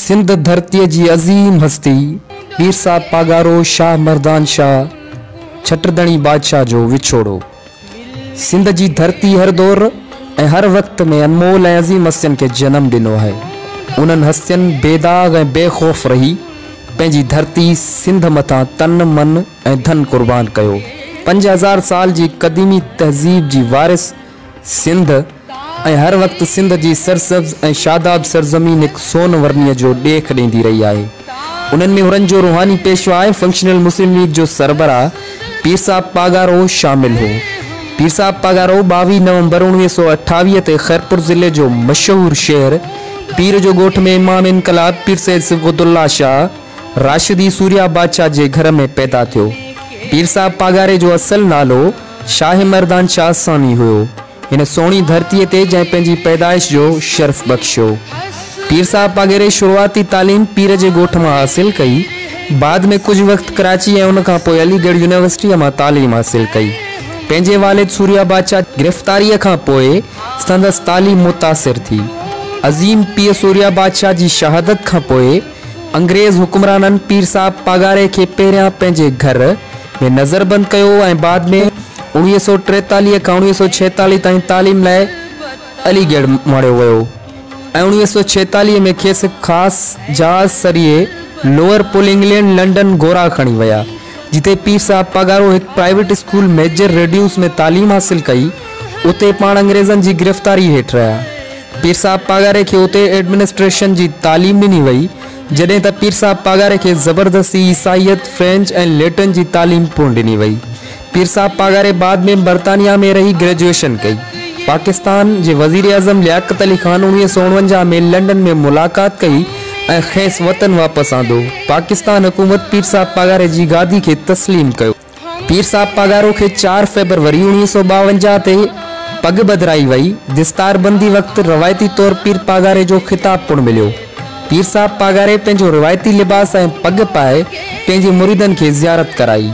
سنڌ ڌرتيء جي عظيم هستي پير صاحب پاڳارو شاهه مردان شاهه ڇٽردڻي بادشاهه جو وڇوڙو سنڌ جي ڌرتي هر دور ۽ هر وقت ۾ انمول ۽ عظيم هستين کي جنم ڏنو آهي انهن هستين بيداغ ۽ بي خوف رهي پنهنجي ڌرتي سنڌ مٿان تن من ۽ ڌن قربان ڪيو. پنج هزار سال جي قديمي تهذيب جي وارث سنڌ ۽ هر وقت سنڌ جي سرسبز ۽ شاداب سرزمين هڪ سون ورنيء جو ڏيک ڏيندي رهي آهي. انهن ۾ هرن جو روحاني پيشوا ۽ فنڪشنل مسلم ليگ جو سربراهه پير صاحب پاڳارو شامل هو. پير صاحب پاڳارو ٻاويهه نومبر اوڻويهه سؤ اٺاويهه تي خيرپور ضلعي جو مشهور شهر پير جو ڳوٺ ۾ امام انقلاب پير سيد صبغت الله شاهه، راشدي سوريا بادشاهه جي گهر ۾ پيدا ٿيو. پير صاحب پاڳاري جو اصل نالو شاهه مردان شاهه ثاني هيو. هن سهڻي ڌرتي تي جنهن پنهنجي پيدائش جو شرف بخشيو. پير صاحب پاڳاري شروعاتي تعليم پير جي ڳوٺ مان حاصل ڪئي. بعد ۾ ڪجهه وقت ڪراچي ۽ ان کان پوء علي ڳڙهه يونيورسٽيء مان تعليم حاصل ڪئي. پنهنجي والد سوريا بادشاهه جي گرفتاريء کان پوء سندس تعليم متاثر ٿي. عظيم پيء سوريا بادشاهه جي شهادت کان پوء، انگريز حڪمرانن پير صاحب پاڳاري کي پهريان پنهنجي گهر ۾ نظربند ڪيو ۽ بعد ۾ اوڻيهه سؤ ٽيتاليهه کان اوڻيهه سؤ ڇيتاليهه تائين تعليم لاء علي ڳڙهه مڙهيو ويو ۽ اوڻيهه سؤ ڇيتاليهه ۾ کيس هڪ خاص جهاز سريي لوئر پول انگلينڊ لنڊن گورا کڻي ويا جتي پير صاحب پاڳارو هڪ پرائيويٽ اسڪول ميجر ريڊيوس ۾ تعليم حاصل ڪئي اتي پاڻ انگريزن جي گرفتاري هيٺ رهيا. پير صاحب پاڳاري کي اتي ايڊمنسٽريشن جي تعليم ڏني وئي، جڏهن ته پير صاحب پاڳاري کي زبردستي عيسائيت، فرينچ ۽ ليٽن جي تعليم پڻ ڏني وئي. پير صاحب پاڳاري بعد ۾ برطانيا ۾ رهي گريجوئيشن ڪئي. پاڪستان جي وزيراعظم لياقت علي خان اڻويهه سؤ اڻونجاهه ۾ لنڊن ۾ ملاقات ڪئي ۽ کيس وطن واپس آندو. پاڪستان حڪومت پير صاحب پاڳاري جي گادي کي تسليم ڪيو. پير صاحب پاڳارو کي چار فيبروري اوڻيهه سؤ ٻاونجاهه تي پڳ ٻڌرائي وئي. دستاربندي وقت روايتي طور پير پاڳاري جو خطاب پڻ مليو. پير صاحب پاڳاري پنهنجو روايتي لباس ۽ پڳ پائي پنهنجي مريدن کي زيارت ڪرائي.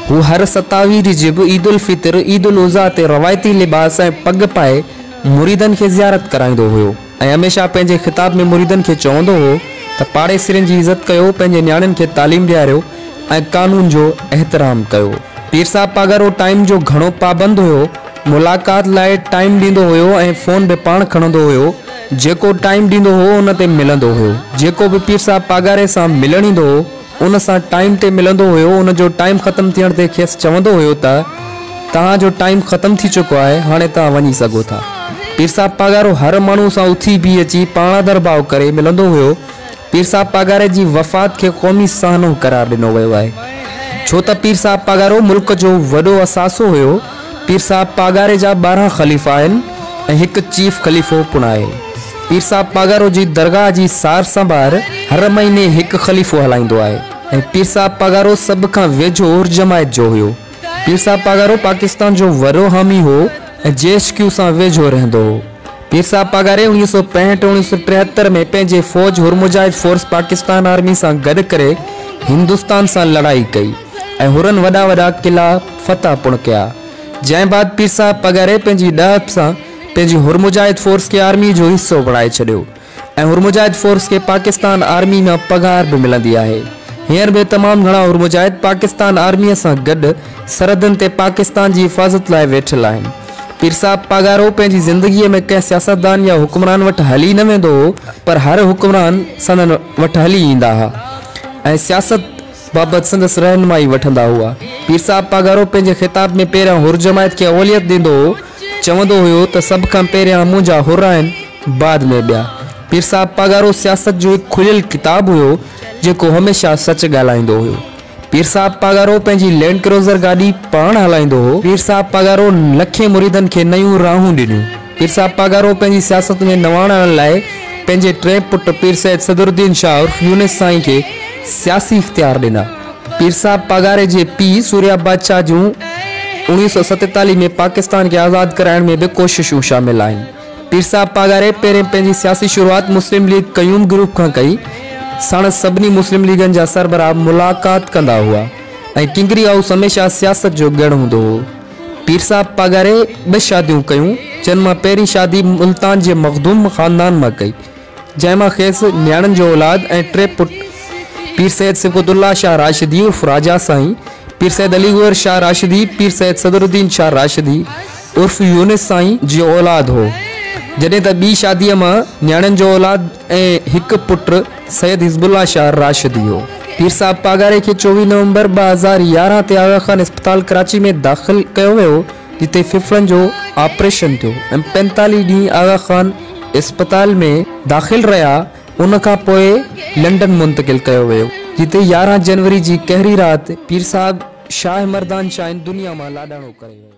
هو هر ستاوي رجب، عيد الفطر، عيد الاضحيٰ تي روايتي لباس ۽ پڳ پائي مريدن کي زيارت ڪرائيندو هيو. ۽ هميشه پنهنجي خطاب ۾ مريدن کي چوندو هو ته پاڙيسرين جي عزت ڪيو، پنهنجي نياڻين کي تعليم ڏياريو ۽ قانون جو احترام ڪيو. پير صاحب پاڳارو ٽائيم جو گهڻو پابند هيو، ملاقات لاء ٽائيم ڏيندو هيو ۽ فون به پاڻ کڻندو هيو، جيڪو ٽائيم ڏيندو هو ان تي ملندو هيو، جيڪو به پير صاحب پاڳاري سان ملڻ ايندو هو، ان سان ٽائيم تي ملندو هيو، ان جو ٽائيم ختم ٿيڻ تي کيس چوندو هيو ته توهان جو ٽائيم ختم ٿي چڪو آهي، هاڻي توهان وڃي سگهو ٿا. پير صاحب پاڳارو هر ماڻهو سان اٿي بيهي اچي پاڻادر ڀاء ڪري ملندو هيو. پير صاحب پاڳاري جي وفات کي قومي سانحو قرار ڏنو ويو آهي، ڇو ته پير صاحب پاڳارو ملڪ جو وڏو اثاثو هيو. پير صاحب پاڳاري جا ٻارهن خليفا آهن ۽ هڪ چيف خليفو پڻ آهي. پير صاحب پاڳارو جي درگاهه جي سار سنڀار هر مهيني هڪ خليفو هلائيندو آهي ۽ پير صاحب پاڳارو سڀ کان ويجهو جماعت جو هيو. پير صاحب پاڳارو پاڪستان جو وڏو حامي هو ۽ جي ايڇ ڪيو سان ويجهو رهندو هو. پير صاحب پاڳاري اڻويهه سؤ پنجهٺ ۽ اڻويهه سؤ ٽيهتر ۾ پنهنجي فوج حر مجاهد فورس پاڪستان آرمي سان گڏ ڪري هندستان سان لڙائي ڪئي ۽ حرن وڏا وڏا قلعا فتح پڻ ڪيا. جنهن بعد پير صاحب پاڳاري پنهنجي ڏاهپ سان پنهنجي حر مجاهد فورس کي آرمي جو حصو بڻائي ڇڏيو ۽ حر مجاهد فورس کي پاڪستان آرمي مان پگهار به ملندي آهي. هينئر به تمام گهڻا حر مجاهد پاڪستان آرمي سان گڏ سرحدن تي پاڪستان جي حفاظت لاء ويٺل آهن. پير صاحب پاڳارو پنهنجي زندگيء ۾ ڪنهن سياستدان يا حڪمران وٽ هلي نه ويندو هو، پر هر حڪمران سندن وٽ هلي ايندا ها ۽ سياست بابت سندس رهنمائي وٺندا هئا. پير صاحب پاڳارو پنهنجي خطاب ۾ پهريان حر جماعت کي اوليت ڏيندو هو، چوندو هيو ته سڀ کان پهريان منهنجا حر آهن، بعد ۾ ٻيا. پير صاحب پاڳارو سياست جو هڪ کليل ڪتاب هيو، جيڪو هميشه سچ ڳالهائيندو هيو. پير صاحب پاڳارو پنهنجي لينڊ ڪروزر گاڏي پاڻ هلائيندو هو. پير صاحب پاڳارو لکين مريدن کي نيون راهون ڏنيون. پير صاحب پاڳارو پنهنجي سياست ۾ نواڻ آڻڻ لاء پنهنجي ٽئين پٽ پير سيد صدرالدين شاهه عرف يونس سائين کي سياسي اختيار ڏنا. پير صاحب پاڳاري جي پيء سوريا بادشاهه جون اوڻيهه سؤ ستيتاليهه ۾ پاڪستان کي آزاد ڪرائڻ ۾ به ڪوششون شامل آهن. پير صاحب پاڳاري پهرين پنهنجي سياسي شروعات مسلم ليگ قيوم گروپ کان ڪئي. ساڻس سڀني مسلم ليگن جا سربراهه ملاقات ڪندا هئا ۽ ڪنگري هائوس هميشه سياست جو ڳڙهه هوندو هو. پير صاحب پاڳاري ٻه شاديون ڪيون، جن مان پهرين شادي ملتان جي مخدوم خاندان مان ڪئي. جنهن مان کيس نياڻين جو اولاد ۽ ٽي پٽ پير سيد صبغت الله شاهه راشدي عرف راجا سائين، پير سيد علي گوهر شاهه راشدي، پير سيد صدر الدين شاهه راشدي عرف يونس سائين جو اولاد هو. جڏهن ته ٻي شاديء مان نياڻين جو اولاد ۽ هڪ پٽ سيد حزب الله شاهه راشدي هو. پير صاحب پاڳاري کي چوويهه نومبر ٻه هزار يارهن تي آغا خان اسپتال ڪراچي ۾ داخل ڪيو ويو. جتي ڦڦڙن جو آپريشن ٿيو ۽ پينتاليهه ڏينهن آغا خان اسپتال ۾ داخل رهيا ان کان پوء لنڊن منتقل ڪيو ويو جتي يارهن جنوري جي قهري رات پيرصاحب شاهه مردان شاهين دنيا مان لاڏاڻو ڪري ويو.